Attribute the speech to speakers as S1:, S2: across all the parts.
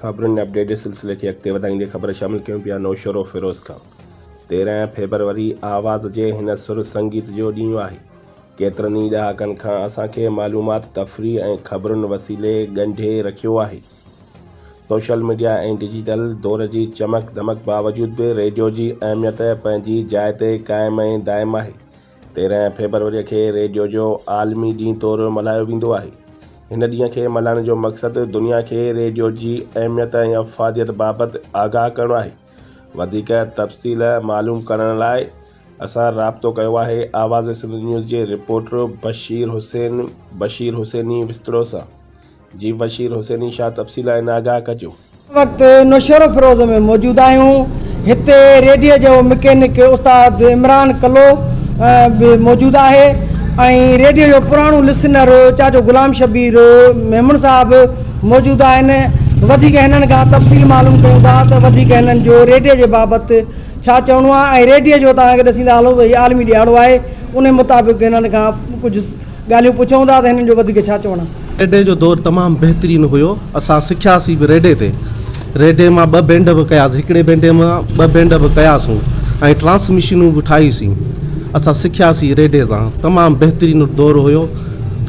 S1: خبرن ۾ اپڊيٽ جي سلسلي کي اڳتي وڌائيندي خبر شامل ڪيون پيا نوشھرو فيروز کان تيرنهن فيبروري آواز جي هن سر سنگيت جو ڏينهن آهي ڪيترن ئي ڏهاڪن کان اسان کي معلومات تفريح ۽ خبرن وسيلي ڳنڍي رکيو آهي. سوشل ميڊيا ۽ ڊجيٽل دور جي چمڪ دمڪ باوجود به ريڊيو جي اهميت پنهنجي جاء تي قائم ۽ دائم آهي. تيرهن فيبروريء کي ريڊيو جو عالمي ڏينهن طور ملهايو ويندو آهي. هن ڏينهن کي ملهائڻ جو مقصد دنيا کي ريڊيو جي اهميت ۽ افاديت بابت آگاهه ڪرڻو آهي. وڌيڪ تفصيل معلوم ڪرڻ لاء اسان رابطو ڪيو آهي آواز سنڌ نيوز جي رپورٽر بشير حسين بشير حسيني وسطڙو سان. جي بشير حسيني شاهه تفصيل آهي نه آگاهه ڪجو. هن وقت
S2: نوشهروفيروز ۾ موجود آهيون هتي ريڊيو جو مڪينڪ استاد عمران ڪلو به موجود آهي ۽ ريڊيو جو پراڻو لسنر چاچو غلام شبير ميمڻ صاحب موجود آهن وڌيڪ هنن کان تفصيل معلوم ڪيون ٿا ته وڌيڪ هنن جو ريڊيو جي بابت ڇا چوڻو آهي ۽ ريڊيو جو توهان کي ڏسيندا هلون ته هي عالمي ڏيهاڙو آهي انهي مطابق هنن کان ڪجهه ڳالهيون پڇون ٿا ته هنن جو وڌيڪ ڇا چوڻ آهي. ريڊي جو دور تمام
S3: بهترين هيو اسان سکياسي به ريڊي تي ريڊي مان ٻه بينڊ به ڪياسي هڪڙي بينڊي مان ٻه بينڊ به ڪياسون ۽ ٽرانس مشينون به ٺاهي سين اسان سکياسي ريڊي تان تمام بهترين دور هيو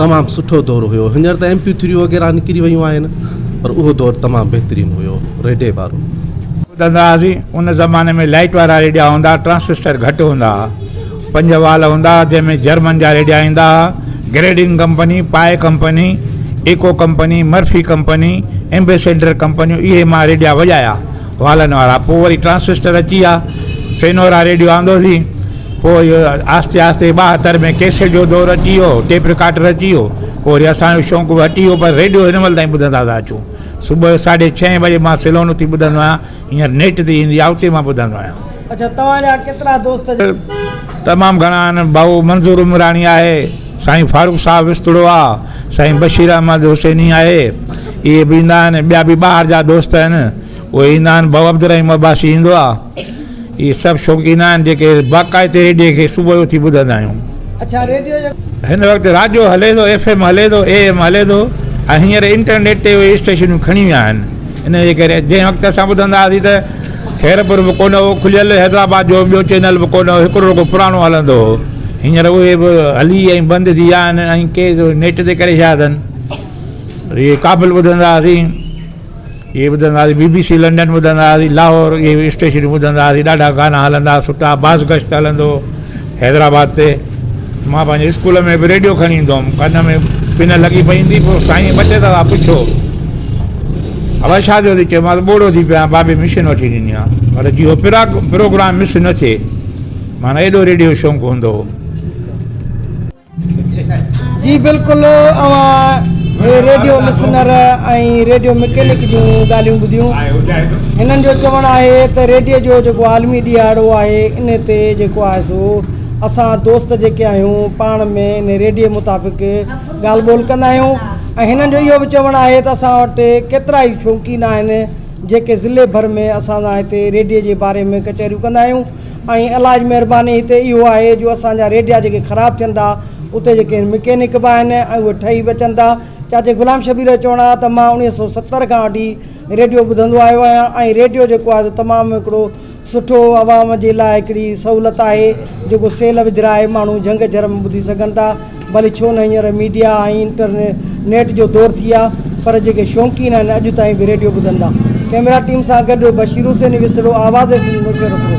S3: تمام سٺو دور هيو هينئر ته ايم پي ٿريون وغيره نڪري ويون آهن پر اهو دور تمام بهترين هيو ريڊي وارو. ٻڌندا هئاسين
S4: ان زماني ۾ لائيٽ وارا ريڊيا هوندا ٽرانسسٽر گهٽ هوندا ها. پنج وال هوندا ها، جنهن ۾ جرمن جا ريڊيا ايندا ها، Grundig company, Pye company, Echo company, Murphy company, ambassador ڪمپنيون اهي مان ريڊيا وڄايا والن وارا، پوء وري ٽرانسسٽر اچي ويا، سينورا ريڊيو آندوسين، پوء اهو آهستي آهستي ٻاهتر ۾ ڪيسٽ جو دور اچي ويو، ٽيپ رڪارڊر اچي ويو، پوء وري اسان جو شوق به هٽي ويو پر ريڊيو هن مهل تائين ٻڌندا ٿا اچون، صبح جو ساڍي ڇهين بجي مان سلون اٿي ٻڌندو آهيان، هينئر نيٽ تي ايندي آهي اتي مان ٻڌندو آهيان.
S2: اچا توهان جا ڪيترا دوست جا. تمام
S4: گهڻا آهن ڀائو منظور عمراڻي آهي سائين فاروق صاحب وسطڙو آ سائين بشير احمد حسيني آهي اهي به ايندا آهن ٻيا به ٻاهر جا دوست آهن اهي ايندا آهن ڀائو عبدالرحيم عباسي ايندو آ اهي سڀ شوقين آهن جيڪي باقاعدي ريڊيو کي صبح جو اٿي ٻڌندا آهيون اچا
S2: ريڊيو جو هن وقت راڊيو
S4: هلي ٿو ايف ايم هلي ٿو اي ايم هلي ٿو ۽ هينئر انٽرنيٽ تي اهي اسٽيشنون کڻي ويا آهن ان جي ڪري جنهن وقت اسان ٻڌندا هئاسين ته خيرپور به ڪونه هو کليل، حيدرآباد جو ٻيو چينل به ڪونه هو، هڪڙو رڳو پراڻو هلندو هو. هينئر اهي به هلي ۽ بند ٿي ويا آهن ۽ ڪي نيٽ تي ڪري ڇڏيا اٿن. اهي ڪابل ٻڌندا هئاسين، اهي ٻڌندا هئاسين، بي بي سي لنڊن ٻڌندا هئاسين، لاهور اهي اسٽيشنون ٻڌندا هئاسين، ڏاڍا گانا هلندا، سٺا، باز گشت هلندو هو. حيدرآباد تي مان پنهنجي اسڪول ۾ به ريڊيو کڻي ايندو هوم ڪن ۾ پن لڳي پئي هوندي پوء سائين ٻه ٽي دفعا پڇيو الاء ڇا ٿيو اٿئي چيومانس ٻوڙو ٿي پيو آهيان بابي مشين وٺي ڏني آهي پر جي هو پراگ پروگرام مس نه ٿئي مانه ايڏو ريڊيو شوق هوندو هو
S2: جي بلڪل اوهان هي ريڊيو لسنر ۽ ريڊيو مڪينڪ جون ڳالهيون ٻڌيون هنن جو چوڻ آهي ته ريڊيو جو جيڪو عالمي ڏيهاڙو آهي ان تي جيڪو آهي سو اسان دوست جيڪي آهيون پاڻ ۾ ان ريڊيو مطابق ڳالهه ٻولهه ڪندا آهيون ۽ هنن جو اهو به چوڻ آهي ته اسان وٽ ڪيترا ئي شوقين آهن جيڪي ضلعي ڀر ۾ اسان سان هتي ريڊيو جي باري ۾ ڪچهريون ڪندا آهيون ۽ الله جي مهرباني هتي اهو آهي جو اسان جا ريڊيا جيڪي خراب ٿين ٿا اتي جيڪي مڪينڪ به آهن ۽ اهي ٺهي به اچن ٿا چاچي غلام شبير جو چوڻ آهي ته مان اڻويهه سو ستر کان وٺي ريڊيو ٻڌندو آيو آهيان ۽ ريڊيو جيڪو آهي سو تمام هڪڙو سٺو عوام جي لاء هڪڙي سهولت آهي جيڪو سيل وجهرائي ماڻهو جهنگ جهرم ٻڌي سگهن ٿا ڀلي ڇو نه هينئر ميڊيا ۽ انٽر نيٽ جو دور ٿي آ پر جيڪي شونقين آهن اڄ تائين به ريڊيو ٻڌندا ڪيمرا ٽيم سان گڏ بشير حسين وسطڙو آواز سنڌ مشهور ڪرو.